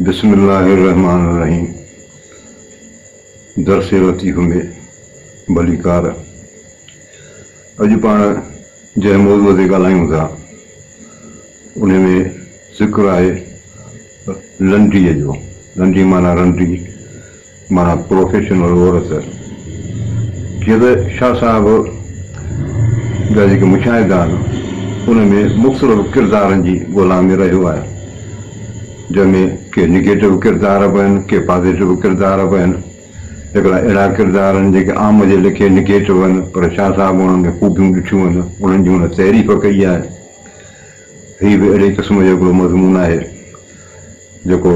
بسم الله الرحمٰن الرحيم در سيرو ٿي گهمي ڀليڪار اڄ پاڻ جنهن موضوع تي ڳالهايون ٿا ان ۾ ذڪر آهي لنڊيء جو لنڊي معنيٰ رنڊي معنيٰ پروفيشنل عورت. جيئن ته شاهه صاحب جا جيڪي مشاهدا آهن ان ۾ مختلف ڪردارن جي ڳولا ۾ رهيو آهيان جنهن ۾ ڪي نيگيٽو ڪردار به آهن ڪي پازيٽو ڪردار به آهن هڪڙا اهڙا ڪردار آهن جيڪي عام جي ليکي نيگيٽو آهن پر شاهه صاحب انهن ۾ خوبيون ڏٺيون آهن انهن جي هن تعريف ڪئي آهي هي به اهڙي قسم جو هڪڙو مضمون آهي جيڪو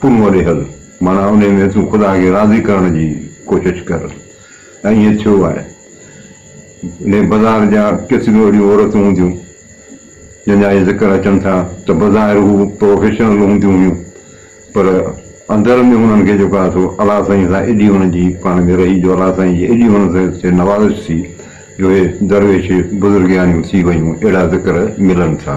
تون وري هل، معنيٰ انهي ۾ تون خدا کي راضي ڪرڻ جي ڪوشش ڪر. ۽ ائين ٿيو آهي. انهي بظاهر جا ڪيتريون اهڙيون عورتون هونديون، جن جا اهي ذڪر اچن ٿا ته بظاهر هو پروفيشنل هونديون هيون، پر اندر ۾ هنن کي جيڪو آهي سو الله سائين سان ايڏي هنن جي پاڻ ۾ رهي جو الله سائين جي ايڏي هنن تي نوازش ٿي جو اهي درويش بزرگياڻيون ٿي ويون اهڙا ذڪر ملن ٿا.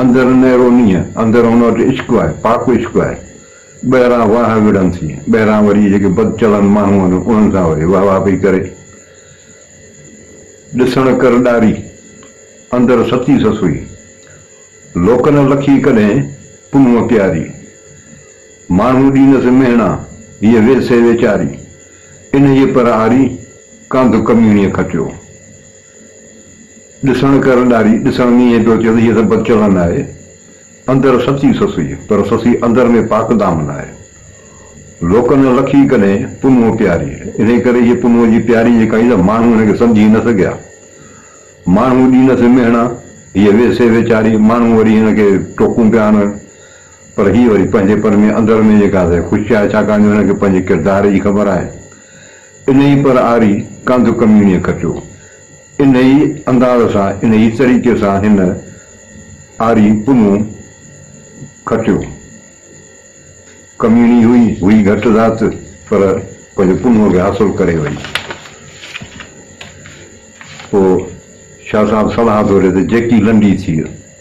اندر نيرونيء اندر هن وٽ عشق آهي، پاڪ عشق آهي. ٻاهران واهه وڙهن ٿي، ٻاهران وري جيڪي بد چلند ماڻهو آهن، انهن سان وري واهه واهه پئي ڪري. ڏسڻ ڪر ڏاري، اندر ستي سسئي. لوڪ نه لکي ڪڏهن، پنهونء پياري. ماڻهو ڏينس مهڻا، هيء ويسي ويچاري. انهيء پر آري، ڪانڌ ڪميڻيء کٽيو. ڏسڻ ڪر ڏاري ڏسڻ ۾ ائين پيو چوي جيسين بد چلن آهي اندر سچي سسئي پر سسئي اندر ۾ پاڪ دامن آهي لوڪ نه لکي ڪڏهن پنهون پياري انهي ڪري جي پنهون جي پياري جيڪا هئي ته ماڻهو هن کي سمجهي نه سگهيا ماڻهو ڏي نس مهڻا هيء ويسي ويچاري ماڻهو وري هن کي ٽوڪون پيا هڻن پر هيء وري پنهنجي پن ۾ اندر ۾ جيڪا سي خوش آهي ڇاڪاڻ جو هن کي پنهنجي ڪردار جي خبر آهي انهي پر آري ڪانڌ ڪميڻيء ڪٽيو انهيء انداز سان، انهيء طريقي سان هن آري پنهون کٽيو. ڪميڻي هئي، هئي گهٽ ذات، پر پنهنجو پنهون کي حاصل ڪري وئي. پوء شاهه صاحب صلاح ٿو ڏي ته جيڪي لنڊي ٿيء.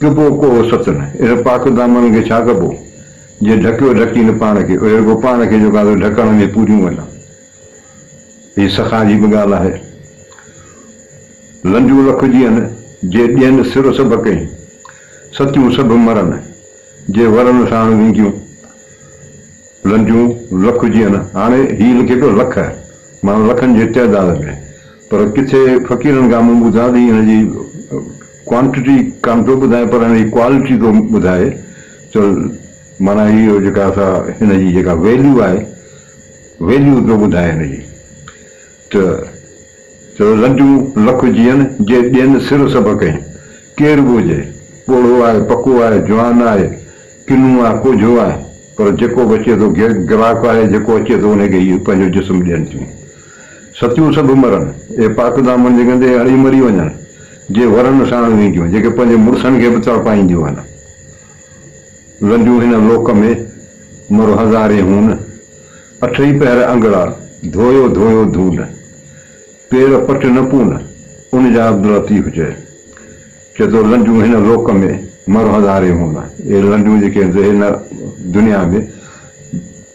ڪبو ڪو ست نه، اهڙي پاڪ دامن کي ڇا ڪبو؟ جي ڍڪيو ڍڪي نه پاڻ کي، اهڙي رڳو پاڻ کي جو ڪانڌيون ڍڪڻ ۾ پوريون وڃن. هي سخا جي به ڳالهه آهي. لنجون لک جيئن، جي ڏين سر سڀ ڪئي. ستيون سڀ مرن، جي ورن ساڻ وينديون. لنجون لک جيئن، هاڻي هي لکي پيو لک، معنيٰ لکن جي تعداد ۾. پر ڪٿي فقيرن کان مون ٻڌا ٿي هن جي ڪوانٽٽي ڪانه ٿو ٻڌائي پر هن جي ڪوالٽي ٿو ٻڌائي ته معنيٰ هي هو جيڪا اسان هن جي جيڪا ويليو آهي ويليو ٿو ٻڌائي هن جي ته چوي لنڊيون لک جيئن جي ڏين سر سڀ ڪئين ڪير به هجي پوڙهو آهي پڪو آهي جوان آهي ڪنو آهي ڪوجهو آهي پر جيڪو به اچي ٿو گراڪ آهي جيڪو اچي ٿو ان کي هي پنهنجو جسم ڏين ٿيون. ستيون سڀ مرن، اهي پاڪ دامن جي گندي اڙي مري وڃن، جي ورن ساڻ وينديون، جيڪي پنهنجي مڙسن کي به تڙپائينديون هن. لنڊيون هن لوڪ ۾، مر هزارين هون، اٺ ئي پهر انگڙا، ڌويو ڌويو ڌون، پير پٽ نه پون، ان جا عبداللطيف چئه. چئه ٿو لنڊيون هن لوڪ ۾، مر هزارين هون، اهي لنڊيون جيڪي هن دنيا ۾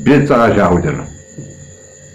بي تحاشا هجن.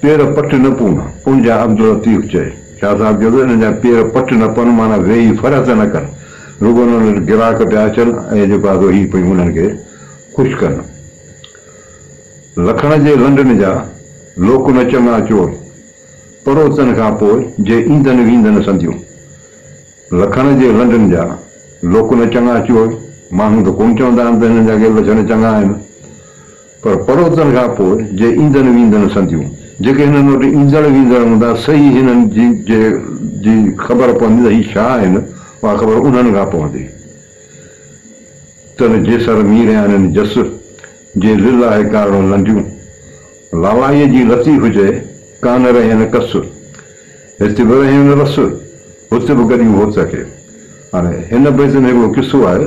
پير پٽ نه پون، ان جا عبداللطيف چئي. شاهه صاحب چيو ته انهن جا پير پٽ نه پون معنيٰ ويهي ڦر ته نه ڪن، رڳو انهن وٽ گراهڪ پيا اچن ۽ جيڪو آهي سو هي پيون انهن کي خوش ڪن. لکڻ جي لنڊن جا لوڪ نه چڱا چور، پروتن کان پوء جي ايندن ويندن سنديون. لکڻ جي لنڊن جا لوڪ نه چڱا چور، ماڻهو ته ڪونه چوندا آهن ته هنن جا ڪي لڇڻ چڱا آهن. پر پروتن کان پوء جي ايندن ويندن سنديون، جيڪي هنن وٽ ايندڙ ويندڙ هوندا، سهي هنن جي جي جي خبر پوندي ته هي ڇا آهن، اها خبر انهن کان پوندي. تن جيسر ميريانين جس، جي لله ڪارڻ لنديون. لالائيء جي لطيف هجي، ڪانه رهين ڪس. هت به رهين رس، هت به گڏيون هوت کي. هاڻي هن بيت ۾ هڪڙو قصو آهي.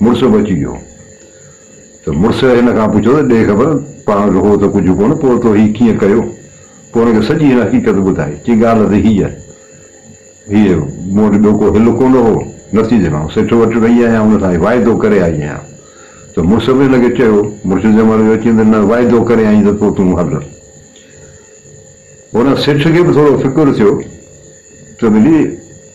مڙس به اچي ويو ته مڙس هن کان پڇيو ته ڏي خبر پاڻ کي هو ته ڪجهه ڪونه پوء تو هي ڪيئن ڪيو؟ پوء هن کي سڄي هن حقيقت ٻڌائي چي ڳالهه ته هيء هيء مون وٽ ٻيو ڪو حل ڪونه هو نٿي جهلان سيٺ وٽ وئي آهيان هن سان واعدو ڪري آئي آهيان ته مڙس به هن کي چيو مڙس جنهن مهل اهو چيم ته نه واعدو ڪري آئين ته پوء تون هل هن سيٺ کي به ٿورو فڪر ٿيو ته ملي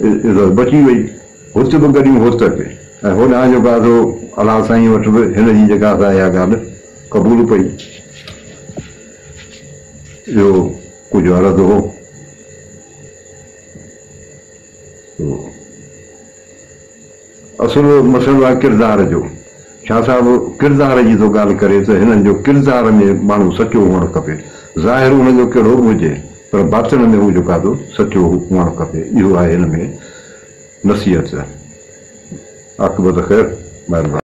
عزت بچي وئي. هت به گڏيون هوت اچي ۽ هوڏانهن جو گاڌو الله سائين وٽ به هن جي جيڪا سا اها ڳالهه قبول پئي. اهو ڪجهه عرض هو سو. اصل مسئلو آهي ڪردار جو. شاهه صاحب ڪردار جي ٿو ڳالهه ڪري ته هنن جو ڪردار ۾ ماڻهو سچو هئڻ کپي. ظاهر ان جو ڪهڙو به هجي پر باطن ۾ هو جيڪا ٿو سچو هئڻ کپي. اهو آهي هن ۾ نصيحت. عاقبت خير. مهرباني.